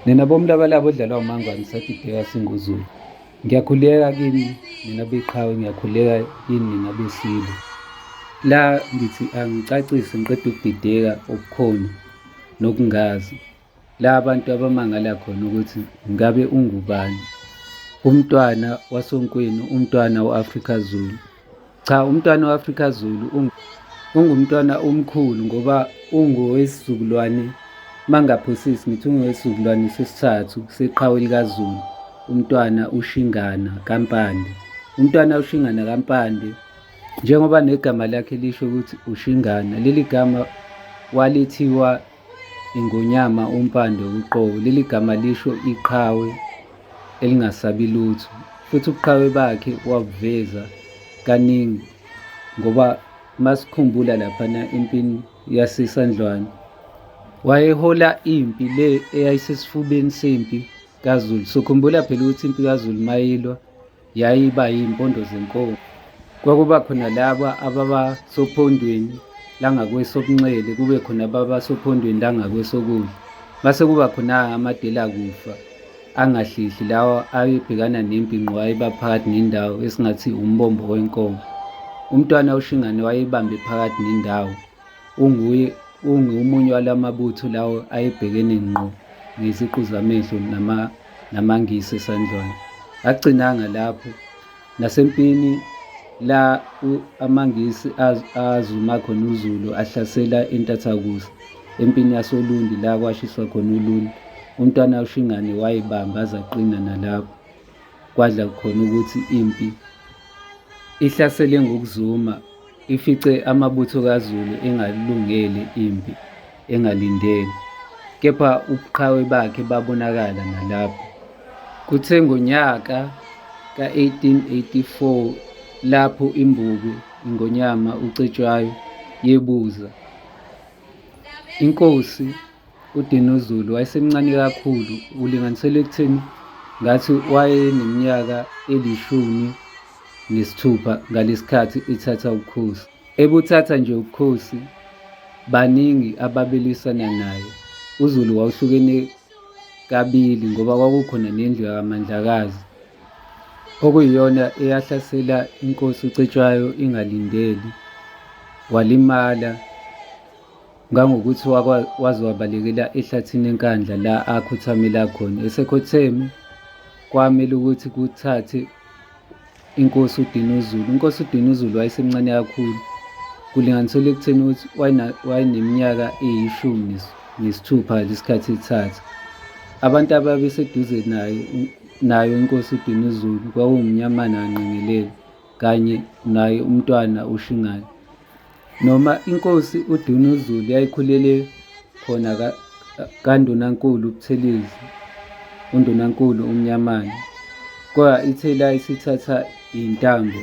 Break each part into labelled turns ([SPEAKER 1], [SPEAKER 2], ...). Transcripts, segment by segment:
[SPEAKER 1] Nina bomlabalaba odlalwa umangwane sathi bheka singuzulu. Ngiyakhuleka kini nina beqhawe ngiyakhuleka kini nina besilo. La ngithi angicacise ngiqeda ukudideka okukhona nokungazi. La abantu abamangala khona ukuthi ngabe ungubani. Umntwana wasonkweni, umntwana u-Afrika Zulu. Cha umntwana we-Afrika Zulu ungumntwana omkhulu ngoba ungowesizukulwane mangaphosisi ngithi ungowesizukulwane sesithathu seqhawe likaZulu umntwana uShingana kaMpande. Umntwana uShingana kaMpande njengoba negama lakhe lisho ukuthi uShingana leli gama walithiwa Ingonyama umpande uqobo. Leli gama lisho iqhawe elingasabi lutho futhi ubuqhawe bakhe wabuveza kaningi ngoba masikhumbula laphana empini yasesandlwane wayehola impi le eyayisesifubeni sempi kazulu sokhumbula phela ukuthi impi kazulu mayilwa yayiba yimpondo zenkomo. Kwakuba khona laba ababa sophondweni langakwesobunxele kube khona ababa sophondweni langakwesokudla. Base kuba khona amadela kufa angahlihli lawa ayebhekana nempi ngqo ayiba phakathi nendawo esingathi umbombo wenkomo. Umntwana uShingane wayebambe phakathi nendawo Unguye ungomunye walamabutho lawo ayebhekene ngqo ngeziqu zamehlo nama namaNgisi esandlwana. Agcinanga lapho nasempini la amaNgisi azuma khona uZulu ahlasela intathakusa empini yasoLundi la kwashiswa khona uLundi. UMntwana uShingane wayibamba azaqina nalapho kwadla khona ukuthi impi ihlasele ngokuzuma ifice amabutho kaZulu engalungeli impi engalindele, kepha ubuqhawe bakhe babonakala nalapho. Kuthe ngonyaka ka-1884 lapho imbuku iNgonyama uCetshwayo yebuza inkosi UDinuzulu wayesemncane kakhulu, ulinganiselwa ekutheni ngathi wayeneminyaka elishumi nesithupha ngalesikhathi ithatha ubukhosi. Ebuthatha nje ubukhosi baningi ababelwisana naye. UZulu wawuhlukene kabili ngoba kwakukhona nendlu yakaMandlakazi okuyiyona eyahlasela inkosi uCetshwayo ingalindeli walimala ngangokuthi waze wabalekela ehlathini enkandla la akhothamela khona esekhotheme kwamele ukuthi kuthathe inkosi udinuzulu inkosi udinuzulu wayesemncane kakhulu kulinganiselwa ekutheni ukuthi wayeneminyaka eyishumi nesithupha lesikhathi ethatha abantu ababeseduze naye nayo inkosi udinuzulu kwawumnyamana wanqengelele kanye naye umntwana ushingane Noma inkosi uDunuzulu yayikhulele khona kaNdunankulu uButhelezi, uNdunankulu uMnyamane, kodwa ithe la isithatha iy'ntambo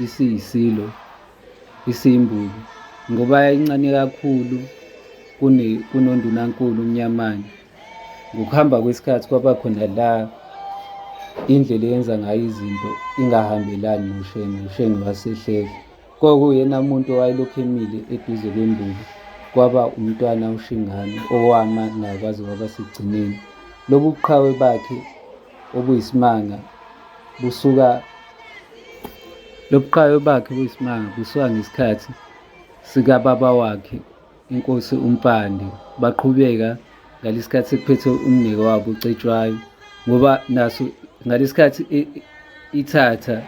[SPEAKER 1] isiyisilo isiyimbulo ngoba yayincane kakhulu kunondunankulu uMnyamane. Ngokuhamba kwesikhathi kwaba khona la indlela eyenza ngayo izinto ingahambelani noShenge, uShenge wasehlehla. Kwakuyena muntu owayelokhu emile eduze kwembuka kwaba umntwana uShingane owama naye kwaze kwaba sekugcineni. Lobu buqhawe bakhe obuyisimanga busuka lobuqhawe bakhe buyisimanga busuka ngesikhathi sikababa wakhe inkosi uMpande baqhubeka ngalesikhathi sekuphethe umnike wabo uCetshwayo ngoba naso ngalesikhathi ithatha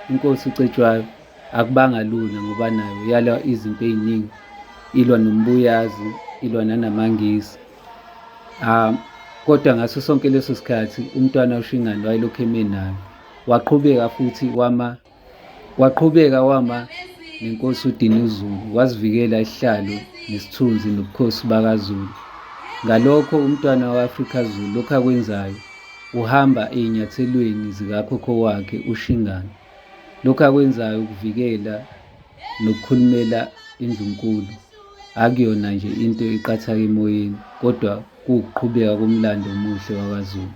[SPEAKER 1] inkosi uCetshwayo akubanga lula ngoba nayo yala izinto eziningi ilwa nombuyazi ilwa nanamangisi um kodwa ngaso sonke leso sikhathi umntwana ushingane wayelokhu eme nayo waqhubeka futhi wama Waqhubeka wama nenkosi uDinuzulu, wazivikela isihlalo nesithunzi nobukhosi bakaZulu. Ngalokho umntwana wa-Afrika Zulu lokhu akwenzayo uhamba ezinyathelweni zikakhokho wakhe uShingana. Lokhu akwenzayo ukuvikela nokukhulumela indlunkulu akuyona nje into eqathaka emoyeni kodwa kuwukuqhubeka komlando omuhle wakwaZulu.